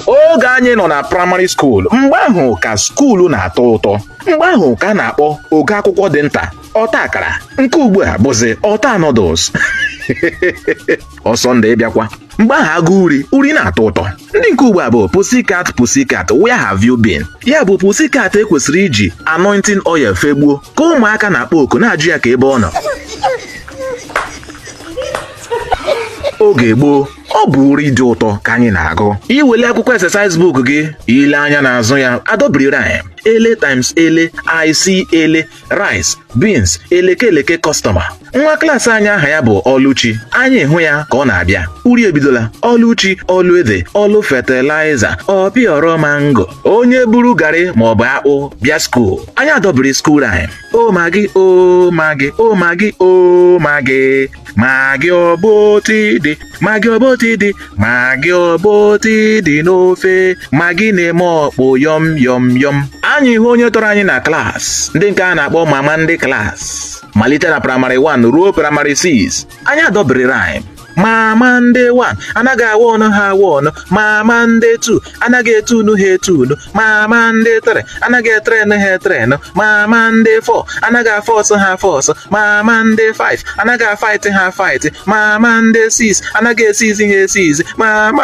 oge anyị nọ na praịmarị skuul mgbe ahụ ka skuulu na-atọ ụtọ mgbe ahụ ka a na-akpọ ogo akwụkwọ dị nta ọta akara nke ugbu a bụzi ọta noodles ọsọ ndị bịakwa mgbe ahụ agụ uri uri na-atọ ụtọ ndị nke ugbu a bụ pussycat pussycat where have you been ya bụ pussycat e kwesịrị iji anointing oil fegbuo ka ụmụaka na-akpọ oku na-ajụ ya ka ebe ọ nọ oge gboo ọ bụ uri dị ụtọ ka anyị na-agụ i wele akwụkwọ exercise book gị i lee anya n'azụ ya adọbiri rhyme ele times ele i see ele rice beans eleke eleke customer nwa klaasị anyị aha ya bụ ọlụchi anyị hụ ya ka ọ na-abịa uri ebidola ọlụchi ọlụ ede ọlụ fertilizer ọpịọrọ mango onye buru garị maọbụ akpụ bịa skuul anyị adọbiri skuul rhyme o magi o magi o magi o magi Magị ọbọtị dị, magị ọbọtị dị, magị ọbọtị dị n'ofe, magị na-eme ọkpụ yọm yọm yọm. Anyị hụ onye tọrọ anyị na klaasị, ndị nke a na-akpọ mama ndị klaasị. Malite na praịmarị 1 ruo praịmarị 6, anyị adọbiri rhyme. Mama ndị 1 anaghị awa ọnụ ha awa ọnụ, mama ndị 2 anaghị etu ọnụ ha etu ọnụ mama ndị 3 anaghị etrenụ ha etrenụ mama ndị 4 anaghị afọ ọsọ ha afọ ọsọ mama ndị 5 anaghị afaịtị ha afaịtị mama ndị 6 anaghị esizi ha esizi mama